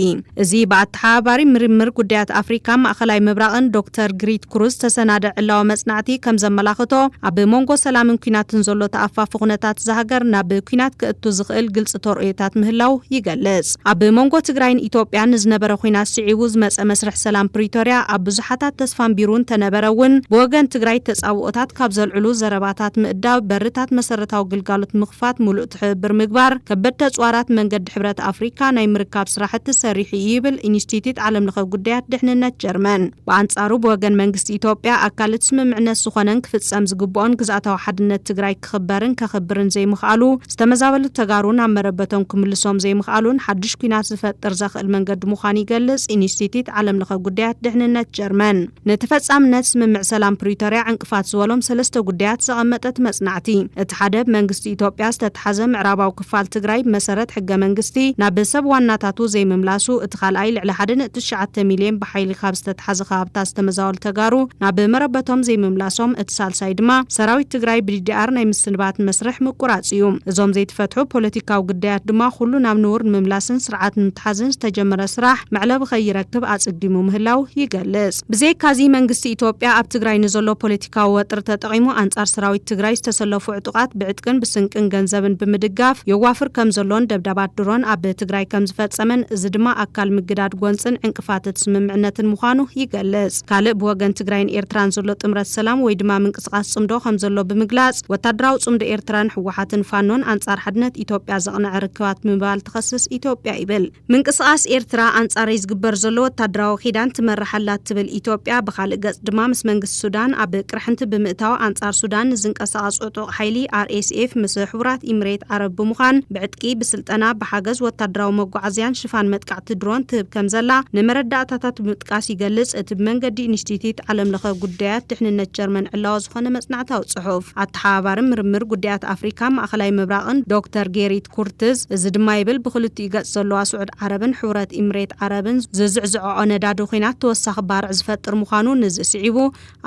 [SPEAKER 15] እዚ ብኣተሓባባሪ ምርምር ጉዳያት ኣፍሪካ ማእኸላይ ምብራቕን ዶክተር ግሪት ክሩዝ ዝተሰናደእ ዕላዊ መፅናዕቲ ከምዘመላኽቶ ኣብ ሞንጎ ሰላምን ኲናትን ዘሎ ተኣፋፊ ኩነታት እዛ ሃገር ናብ ኲናት ከእቱ ዝኽእል ግልፂ ተርእዮታት ምህላው ይገልፅ። ኣብ መንጎ ትግራይን ኢትዮጵያን ንዝነበረ ኹናት ስዒቡ ዝመፀ መስርሕ ሰላም ፕሪቶርያ ኣብ ብዙሓታት ተስፋ ኣንቢሩ እንተነበረ እውን ብወገን ትግራይ ተፃብኦታት ካብ ዘልዕሉ ዘረባታት ምእዳብ በርታት መሰረታዊ ግልጋሎት ምኽፋት ሙሉእ ትሕብብር ምግባር ከበድቲ ኣፅዋራት መንገዲ ሕብረት ኣፍሪካ ናይ ምርካብ ስራሕቲ ሰሪሑ እዩ ይብል ኢንስቲትዩት ዓለምለኸ ጉዳያት ድሕንነት ጀርመን ብኣንፃሩ ብወገን መንግስቲ ኢትዮጵያ ኣካል እቲ ስምምዕነት ዝኾነን ክፍፀም ዝግብኦን ግዝኣታዊ ሓድነት ትግራይ ክኽበርን ከኽብርን ዘይምኽኣሉ፣ ዝተመዛበሉ ተጋሩ ናብ መረበቶም ክምልሶም ዘይምኽኣሉን ሓዱሽ ኲናት ዝፈጥር ዘኽእል መንገዲ ምዃኑ ይገልጽ ኢንስቲትዩት ዓለምለኸ ጉዳያት ድሕንነት ጀርመን። ንተፈጻምነት ስምምዕ ሰላም ፕሪቶርያ ዕንቅፋት ዝበሎም ሰለስተ ጉዳያት ዘቐመጠ እቲ መጽናዕቲ፣ እቲ ሓደ ብ መንግስቲ ኢትዮጵያ ዝተትሓዘ ምዕራባዊ ክፋል ትግራይ ብመሰረት ሕገ መንግስቲ ናብ ሰብ ዋናታቱ ዘይምምላሱ እቲ ካልኣይ ልዕሊ ሓደ ነጥቢ ትሽዓተ ሚልየን ብሓይሊ ካብ ዝተትሓዘ ከባብታት ዝተመዛወሉ ተጋሩ ናብ መረበቶም ዘይምምላሶም እቲ ሳልሳይ ድማ ሰራዊት ትግራይ ብዲዲኣር ናይ ምስንባት ንመስርሕ ምቁራፅ እዩ እዞም ዘይትፈትሑ ፖለቲካዊ ግዳያት ድማ ኩሉ ናብ ንቡር ንምምላስን ስርዓት ንምትሓዝን ዝተጀመረ ስራሕ መዕለቢ ከይረክብ ኣፅጊሙ ምህላው ይገልፅ። ብዘይካ'ዚ መንግስቲ ኢትዮጵያ ኣብ ትግራይ ንዘሎ ፖለቲካዊ ወጥሪ ተጠቒሙ ኣንጻር ሰራዊት ትግራይ ዝተሰለፉ ዕጡቓት ብዕጥቅን ብስንቅን ገንዘብን ብምድጋፍ የዋፍር ከምዘሎን ደብዳባት ድሮን ኣብ ትግራይ ከምዝፈጸመን እዚ ድማ ኣካል ምግዳድ ጎንጽን ዕንቅፋትት ስምምዕነትን ምዃኑ ይገልጽ። ካልእ ብወገን ትግራይን ኤርትራን ዘሎ ጥምረት ሰላም ወይ ድማ ምንቅስቓስ ጽምዶ ከምዘሎ ብምግላጽ ወታደራዊ ጽምዶ ኤርትራን ህወሓትን ፋኖን ኣንጻር ሓድነት ኢትዮጵያ ዘቕነዐ ርክባት ብምባል ትኸስስ ኢትዮጵያ ይብል። ምንቅስቓስ ኤርትራ ኣንጻረይ ዝግበር ዘሎ ወታደራዊ ኪዳን ትመርሕ ኣላ እትብል ኢትዮጵያ፣ ብኻልእ ገጽ ድማ ምስ መንግስቲ ሱዳን ኣብ ቅርሕንቲ ብምእታው ኣንጻር ሱዳን ንዝንቀሳቐስ ዕጡቕ ሓይሊ፣ RSF፣ ምስ ሕቡራት ኢምሬት ዓረብ ብምዃን ብዕጥቂ፣ ብስልጠና፣ ብሓገዝ ወታደራዊ መጓዓዝያን ሽፋን መጥቃዕቲ ድሮን ትህብ ከምዘላ ንመረዳእታታት ብምጥቃስ ይገልጽ እቲ ብመንገዲ ኢንስቲትዩት ዓለምለኸ ጉዳያት ድሕንነት ጀርመን ዕላዊ ዝኾነ መጽናዕታዊ ጽሑፍ። ተሓባባሪ ምርምር ጉዳያት ኣፍሪካ ማእኸላይ ምብራቕን ዶክተር ጌሪት ኩርትዝ እዚ ድማ ይብል ብኽልቲኡ ገፅ ዘለዋ ስዑድ ዓረብን ሕቡረት ኢምሬት ዓረብን ዝዝዕዝዐዖ ነዳዲ ኹናት ተወሳኺ ባርዕ ዝፈጥር ምዃኑ ንዚ ስዒቡ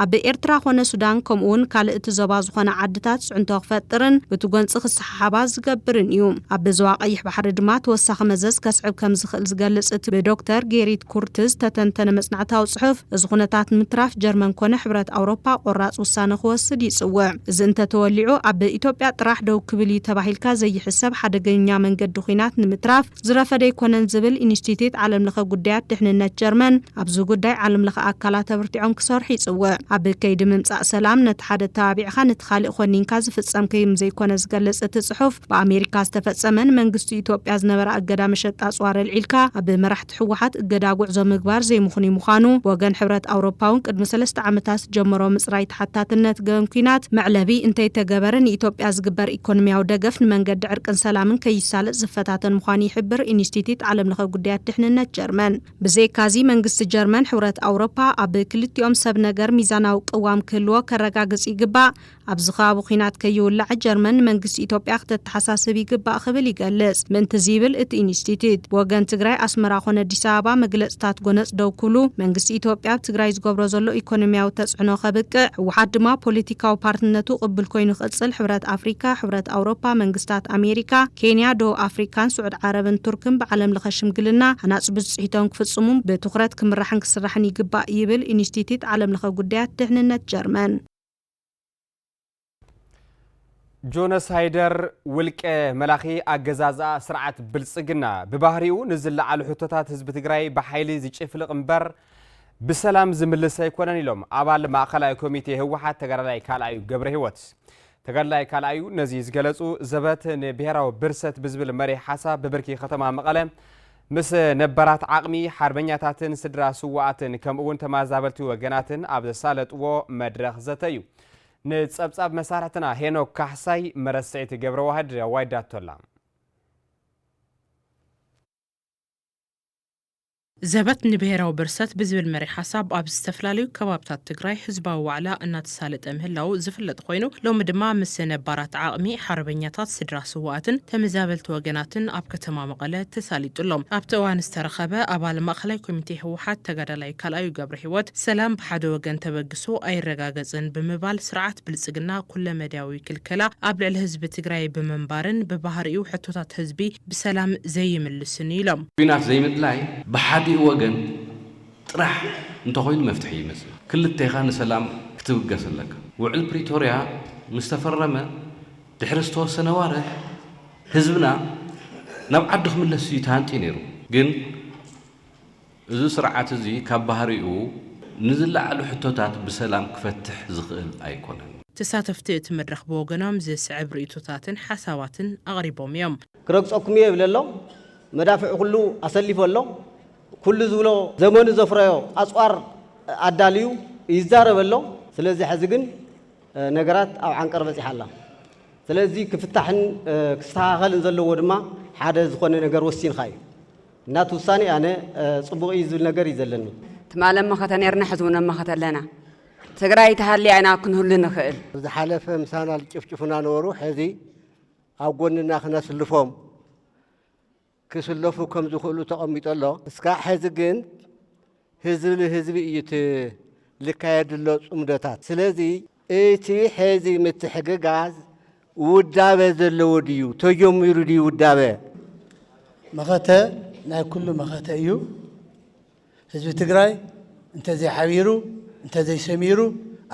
[SPEAKER 15] ኣብ ኤርትራ ኾነ ሱዳን ከምኡ ውን ካልእ እቲ ዞባ ዝኾና ዓድታት ፅዕንቶ ክፈጥርን ብቲ ጎንፂ ክሰሓ ሓባ ዝገብርን እዩ። ኣብ ዞባ ቀይሕ ባሕሪ ድማ ተወሳኺ መዘዝ ከስዕብ ከም ዝኽእል ዝገልጽ እቲ ብዶክተር ጌሪት ኩርት ዝተተንተነ መጽናዕታዊ ጽሑፍ፣ እዚ ኩነታት ንምትራፍ ጀርመን ኮነ ሕብረት ኣውሮፓ ቆራጽ ውሳነ ክወስድ ይጽውዕ። እዚ እንተተወሊዑ ኣብ ኢትዮጵያ ጥራሕ ደው ክብል እዩ ተባሂልካ ዘይሕሰብ ሓደገኛ መንገዲ ኲናት ንምትራፍ፣ ዝረፈደ ኣይኮነን ዝብል ኢንስቲትዩት ዓለምለኸ ጉዳያት ድሕንነት ጀርመን፣ ኣብዚ ጉዳይ ዓለምለኸ ኣካላት ኣበርቲዖም ክሰርሑ ይጽውዕ። ኣብ ከይዲ ምምጻእ ሰላም ነቲ ሓደ ኣተባቢዕኻ ነቲ ካሊእ ኾኒንካ ዝፍጸም ከይም ዘይኮነ ዝገልጽ እቲ ጽሑፍ፣ ብኣሜሪካ ዝተፈጸመ ንመንግስቲ ኢትዮጵያ ዝነበራ እገዳ መሸጣ ኣጽዋር ኣልዒልካ ኣብ መራሕቲ ህወሓት እገዳ ጉዕዞ ምግባር ዘይምኽኑይ ምዃኑ ብወገን ሕብረት ኣውሮፓውን ቅድሚ ሰለስተ ዓመታት ዝጀመሮ ምጽራይ ተሓታትነት ገበን ኲናት መዕለቢ እንተይተገበረ ንኢትዮጵያ ዝግበር ኢኮኖሚያዊ ደገፍ ንመንገዲ ዕርቅን ሰላምን ከይሳለጥ ዝፈታተን ምዃኑ ይሕብር ኢንስቲትዩት ዓለምለኸ ጉዳያት ድሕንነት ጀርመን። ብዘይካዚ መንግስቲ ጀርመን ሕብረት ኣውሮፓ ኣብ ክልቲኦም ሰብ ነገር ሚዛናዊ ቅዋም ክህልዎ ከረጋግፅ ይግባእ፣ ኣብዚ ከባቢ ኲናት ከይውላዕ ጀርመን ንመንግስቲ ኢትዮጵያ ክተተሓሳስብ ይግባእ ክብል ይገልፅ። ምእንትዚ ይብል እቲ ኢንስቲትዩት ብወገን ትግራይ ኣስመራ ኮነ ኣዲስ ኣበባ መግለፅታት ጎነፅ ደው ክብሉ፣ መንግስቲ ኢትዮጵያ ኣብ ትግራይ ዝገብሮ ዘሎ ኢኮኖሚያዊ ተፅዕኖ ከብቅዕ፣ ህወሓት ድማ ፖለቲካዊ ፓርትነቱ ቅቡል ኮይኑ ብዝቕጽል ሕብረት ኣፍሪካ፣ ሕብረት ኣውሮፓ፣ መንግስታት ኣሜሪካ፣ ኬንያ፣ ደቡብ ኣፍሪካን ስዑድ ዓረብን ቱርክን ብዓለም ለኸ ሽምግልና ሃናፂ ብፅሒቶም ክፍፅሙን ብትኹረት ክምራሕን ክስራሕን ይግባእ ይብል ኢንስቲትዩት ዓለም ለኸ ጉዳያት ድሕንነት ጀርመን።
[SPEAKER 3] ጆኖሳይደር ውልቀ መላኺ ኣገዛዝኣ ስርዓት ብልፅግና ብባህሪኡ ንዝለዓሉ ሕቶታት ህዝቢ ትግራይ ብሓይሊ ዝጭፍልቕ እምበር ብሰላም ዝምልስ ኣይኮነን ኢሎም ኣባል ማእኸላይ ኮሚቴ ህወሓት ተጋዳላይ ካልኣዩ ገብረሂወት። ተጋዳላይ ካልኣዩ ነዚ ዝገለፁ ዘበት ንብሄራዊ ብርሰት ብዝብል መሪሕ ሓሳብ ብብርኪ ከተማ መቐለ ምስ ነባራት ዓቕሚ ሓርበኛታትን ስድራ ስዋኣትን ከምኡ እውን ተመዛበልቲ ወገናትን ኣብ ዘሳለጥዎ መድረኽ ዘተ እዩ። ንጸብጻብ መሳርሕትና ሄኖክ ካሕሳይ መረስዒት ገብረ ዋህድ ኣዋይዳቶላ
[SPEAKER 16] ዘበት ንብሄራዊ ብርሰት ብዝብል መሪሕ ሓሳብ ኣብ ዝተፈላለዩ ከባብታት ትግራይ ህዝባዊ ዋዕላ እናተሳለጠ ምህላዉ ዝፍለጥ ኾይኑ ሎሚ ድማ ምስ ነባራት ዓቕሚ ሓርበኛታት ስድራ ስውኣትን ተመዛበልቲ ወገናትን ኣብ ከተማ መቐለ ተሳሊጡ ኣሎ። ኣብቲ እዋን ዝተረኸበ ኣባል ማእኸላይ ኮሚቴ ህወሓት ተጋዳላይ ካልኣዩ ገብረሂወት ሰላም ብሓደ ወገን ተበግሶ ኣይረጋገፅን ብምባል ስርዓት ብልፅግና ኩለመዳያዊ ክልከላ ኣብ ልዕሊ ህዝቢ ትግራይ ብምንባርን ብባህሪኡ ሕቶታት ህዝቢ ብሰላም ዘይምልስን እዩ ኢሎም። ኲናት ዘይምድላይ
[SPEAKER 17] ብሓዲኡ ወገን ጥራሕ እንተኾይኑ መፍትሒ ኣይመፅእን። ክልቴኻ ንሰላም ክትብገስ ኣለካ። ውዕል ፕሪቶርያ ምስ ተፈረመ ድሕሪ ዝተወሰነ ኣዋርሕ ህዝብና ናብ ዓዱ ክምለስ እዩ ተሃንጥዩ ነይሩ። ግን። እዚ ስርዓት እዚ ካብ ባህሪኡ ንዝለዓሉ ሕቶታት ብሰላም ክፈትሕ ዝኽእል ኣይኮነን። ተሳተፍቲ እቲ
[SPEAKER 16] መድረኽ ብወገኖም ዝስዕብ ርእይቶታትን ሓሳባትን ኣቕሪቦም እዮም። ክረግጸኩም እየ ይብለ ኣሎ።
[SPEAKER 18] መዳፍዕ ኩሉ ኣሰሊፉ ኣሎ። ኩሉ ዝብሎ ዘመኑ ዘፍረዮ ኣጽዋር ኣዳልዩ ይዛረብ ኣሎ። ስለዚ ሕዚ ግን ነገራት ኣብ ዓንቀር በጺሓ ኣላ። ስለዚ ክፍታሕን ክስተኻኸልን ዘለዎ ድማ ሓደ ዝኾነ ነገር ወሲንኻ እዩ። ናቱ ውሳኔ ኣነ ጽቡቅ ኢዩ ዝብል ነገር ኢዩ ዘለኒ። ትማል ኣብ መኸተ
[SPEAKER 19] ኔርና ሕዚ ውን ኣብ መኸተ ኣለና ትግራይ ተሃልያ ኢና ክንህሉ ንኽእል። ኣብ ዝሓለፈ ምሳና
[SPEAKER 20] ዝጭፍጭፉና ነበሩ ሕዚ ኣብ ጎንና ክነስልፎም ክስለፉ ከም ዝኽእሉ ተቀሚጡ ኣሎ እስካዕ ሕዚ ግን ህዝቢ ንህዝቢ እዩ እቲ ልካየድሎ ጽምዶታት። ስለዚ እቲ ሐዚ ምትሕግጋዝ ውዳበ ዘለዎ ድዩ? ተጀሚሩ ድዩ ውዳበ?
[SPEAKER 21] መኸተ ናይ ኩሉ መኸተ እዩ። ህዝቢ ትግራይ እንተዘይሓቢሩ፣ እንተዘይሰሚሩ፣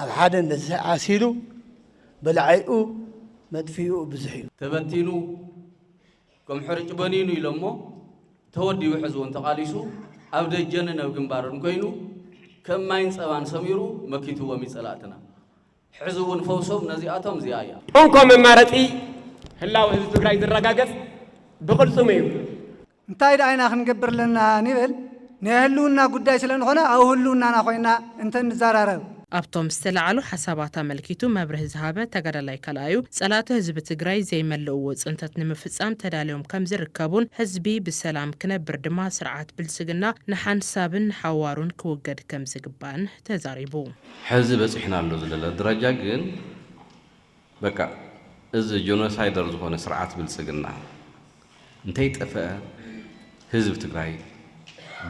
[SPEAKER 21] ኣብ ሓደ እንተዘይዓሲሉ በላዒኡ መጥፊኢኡ ብዙሕ እዩ። ተበቲኑ
[SPEAKER 17] ከም ሕርጭ በኒኑ ኢሎሞ ተወዲቡ ሕዚ ውን ተቓሊሱ ኣብ ደጀንን ኣብ ግንባርን ኮይኑ ከም ማይን ጸባን ሰሚሩ መኪትዎም እዩ ጸላእትና ሕዚ ውን ፈውሶም ነዚኣቶም እዚኣ እያ። እንኮ መማረፂ
[SPEAKER 22] ህላወ ህዝቢ ትግራይ ዝረጋገፅ ብቅልፅሙ እዩ። እንታይ ድኣ
[SPEAKER 23] ኢና ክንገብር ኣለና ንብል? ናይ ህልውና ጉዳይ ስለንኾነ ኣብ ህልውናና ኮይና እንተንዛራረብ። ኣብቶም ዝተለዓሉ
[SPEAKER 16] ሓሳባት ኣመልኪቱ መብርሂ ዝሃበ ተጋዳላይ ካልኣዩ፣ ፀላእቲ ህዝቢ ትግራይ ዘይመልእዎ ፅንተት ንምፍፃም ተዳልዮም ከምዝርከቡን ህዝቢ ብሰላም ክነብር ድማ ስርዓት ብልፅግና ንሓንሳብን ንሓዋሩን ክውገድ ከምዝግባእን ተዛሪቡ። ሐዚ
[SPEAKER 17] በፂሕናሉ ዝለለ ድራጃ ግን በቃ እዚ ጆኖሳይደር ዝኾነ ስርዓት ብልፅግና እንተይጠፈኣ ህዝቢ ትግራይ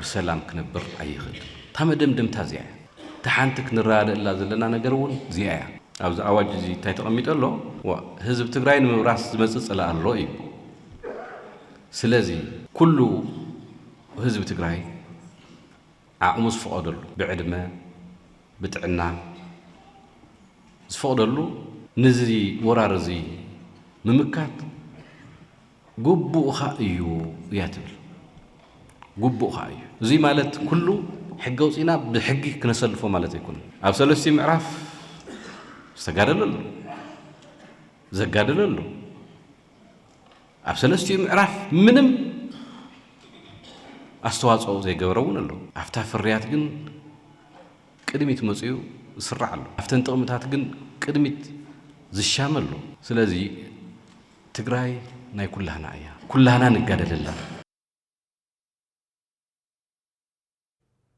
[SPEAKER 17] ብሰላም ክነብር ኣይኽእልን። እታ መደምደምታ እዚኣ እያ። እታ ሓንቲ ክንረዳደእላ ዘለና ነገር እውን እዚኣ እያ። ኣብዚ ኣዋጅ እዚ እንታይ ተቐሚጡ ኣሎ? ዋእ ህዝቢ ትግራይ ንምብራስ ዝመፅእ ፅላእ ኣሎ እዩ። ስለዚ ኩሉ ህዝቢ ትግራይ። ዓቕሙ ዝፍቐደሉ ብዕድመ ብጥዕና ዝፍቕደሉ ንዚ ወራር እዚ ምምካት ጉቡእኻ እዩ እያ ትብል። ጉቡእኻ እዩ እዙይ ማለት ኩሉ ሕጊ ኣውፂእና ብሕጊ ክነሰልፎ ማለት ኣይኮነ ኣብ ሰለስቲኡ ምዕራፍ ዝተጋደለ ኣሎ ዘጋደለ ኣሎ ኣብ ሰለስቲኡ ምዕራፍ ምንም ኣስተዋጽኦ ዘይገበረ እውን ኣሎ። ኣብታ ፍርያት ግን ቅድሚት መጺኡ ዝስራዕ ኣሎ። ኣብተን ጥቕምታት ግን ቅድሚት ዝሻመ ኣሎ። ስለዚ ትግራይ ናይ ኩላህና እያ። ኩላህና ንጋደለላ።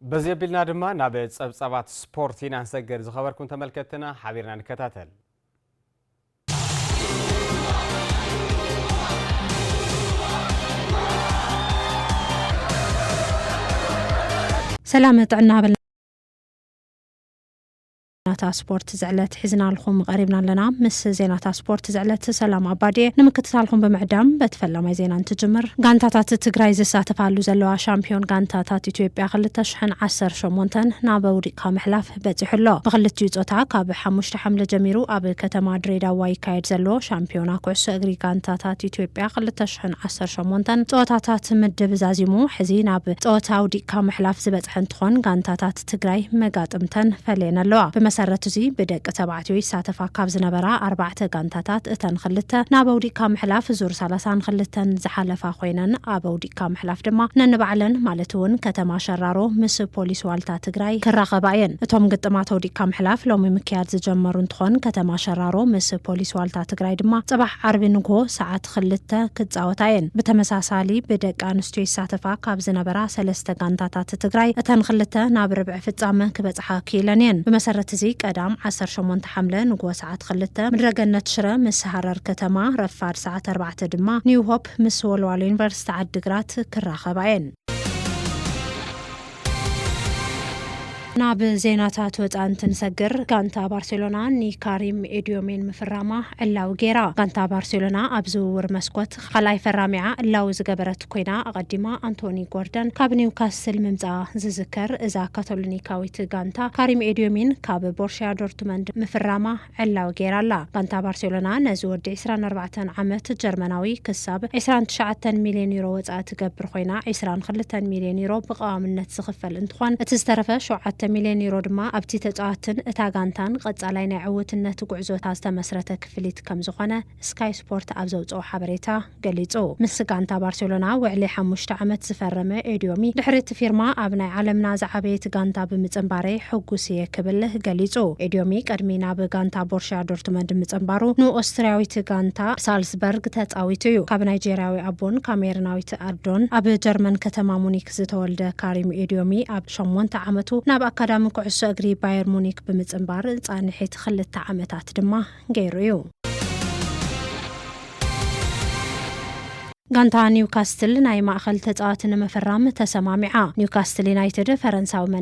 [SPEAKER 3] በዚ ኣቢልና ድማ ናብ ጸብጻባት ስፖርት ኢና ንሰገር ዝኸበርኩም ተመልከትና ሓቢርና ንከታተል
[SPEAKER 15] ሰላም ጥዕና በልና ዜናታት ስፖርት ዝዕለት ሒዝናልኹም ቐሪብና ኣለና። ምስ ዜናታት ስፖርት ዝዕለት ሰላም ኣባዲየ ንምክትታልኹም ብምዕዳም በቲ ፈላማይ ዜና እንትጅምር ጋንታታት ትግራይ ዝሳተፋሉ ዘለዋ ሻምፒዮን ጋንታታት ኢትዮጵያ ክልተ ሽሕን ዓሰርተ ሸሞንተን ናብ ውዲቅካ ምሕላፍ በፂሑ ኣሎ። ብክልቲኡ ፆታ ካብ ሓሙሽተ ሓምለ ጀሚሩ ኣብ ከተማ ድሬዳዋ ይካየድ ዘሎ ሻምፒዮና ኩዕሶ እግሪ ጋንታታት ኢትዮጵያ ክልተ ሽሕን ዓሰርተ ሸሞንተን ፀወታታት ምድብ ዛዚሙ ሕዚ ናብ ፀወታ ውዲቅካ ምሕላፍ ዝበፅሐ እንትኾን ጋንታታት ትግራይ መጋጥምተን ፈልየን ኣለዋ። ብመሰረት እዙይ ብደቂ ተባዕትዮ ይሳተፋ ካብ ዝነበራ ኣርባዕተ ጋንታታት እተን ኽልተ ናብ ኣውዲቕካ ምሕላፍ ዙር ሰላሳን ኽልተን ዝሓለፋ ኾይነን ኣብ ኣውዲቕካ ምሕላፍ ድማ ነንባዕለን ማለት እውን ከተማ ሸራሮ ምስ ፖሊስ ዋልታ ትግራይ ክራኸባ እየን። እቶም ግጥማት ኣውዲቕካ ምሕላፍ ሎሚ ምክያድ ዝጀመሩ እንትኾን ከተማ ሸራሮ ምስ ፖሊስ ዋልታ ትግራይ ድማ ፅባሕ ዓርቢ ንጉሆ ሰዓት ኽልተ ክፃወታ እየን። ብተመሳሳሊ ብደቂ ኣንስትዮ ይሳተፋ ካብ ዝነበራ ሰለስተ ጋንታታት ፕረዚደንት ትግራይ እተን ኽልተ ናብ ርብዒ ፍፃመ ክበፅሓ ክኢለን እየን። ብመሰረት እዚ ቀዳም ዓሰርተ ሸሞንተ ሓምለ ንግሆ ሰዓት ኽልተ ምድረ ገነት ሽረ ምስ ሃረር ከተማ፣ ረፋድ ሰዓት ኣርባዕተ ድማ ኒው ሆፕ ምስ ወልዋሎ ዩኒቨርሲቲ ዓዲ ግራት ክራኸባ እየን። ናብ ዜናታት ወፃኢ እንትንሰግር ጋንታ ባርሴሎና ንካሪም ኤድዮሜን ምፍራማ ዕላዊ ገይራ። ጋንታ ባርሴሎና ኣብ ዝውውር መስኮት ኻልኣይ ፈራሚኣ እላዊ ዝገበረት ኮይና፣ ኣቐዲማ ኣንቶኒ ጎርደን ካብ ኒውካስል ምምጽኣ ዝዝከር፣ እዛ ካቶሊኒካዊት ጋንታ ካሪም ኤድዮሚን ካብ ቦርሽያ ዶርትመንድ ምፍራማ ዕላዊ ገይራ ኣላ። ጋንታ ባርሴሎና ነዚ ወዲ ዕስራን ኣርባዕተን ዓመት ጀርመናዊ ክሳብ ዕስራን ትሽዓተን ሚልዮን ዩሮ ወጻኢ ትገብር ኮይና፣ ዕስራን ክልተን ሚልዮን ዩሮ ብቐዋምነት ዝኽፈል እንትኾን፣ እቲ ዝተረፈ ሸውዓተ ሚልዮን ዩሮ ድማ ኣብቲ ተጻዋትን እታ ጋንታን ቐጻላይ ናይ ዕውትነት ጉዕዞታ ዝተመስረተ ክፍሊት ከምዝኾነ ስካይ ስፖርት ኣብ ዘውጽኦ ሓበሬታ ገሊጹ። ምስ ጋንታ ባርሴሎና ውዕሊ ሓሙሽተ ዓመት ዝፈረመ ኤድዮሚ፣ ድሕሪ እቲ ፊርማ ኣብ ናይ ዓለምና ዝዓበየት ጋንታ ብምጽንባረይ ሕጉስ እየ ክብል ገሊጹ። ኤድዮሚ ቅድሚ ናብ ጋንታ ቦርሽያ ዶርትመንድ ምጽንባሩ ንኦስትርያዊት ጋንታ ሳልስበርግ ተጻዊቱ እዩ። ካብ ናይጀርያዊ ኣቦን ካሜርናዊት ኣዶን ኣብ ጀርመን ከተማ ሙኒክ ዝተወልደ ካሪም ኤድዮሚ ኣብ ሸሞንተ ዓመቱ ናብ ኣካዳሚ ኩዕሶ እግሪ ባየር ሙኒክ ብምጽንባር ጻንሒት ክልተ ዓመታት ድማ ገይሩ እዩ። ጋንታ ኒውካስትል ናይ ማእኸል ተፃዋቲ ንምፍራም ተሰማሚዓ። ኒውካስትል ዩናይትድ ፈረንሳዊ መን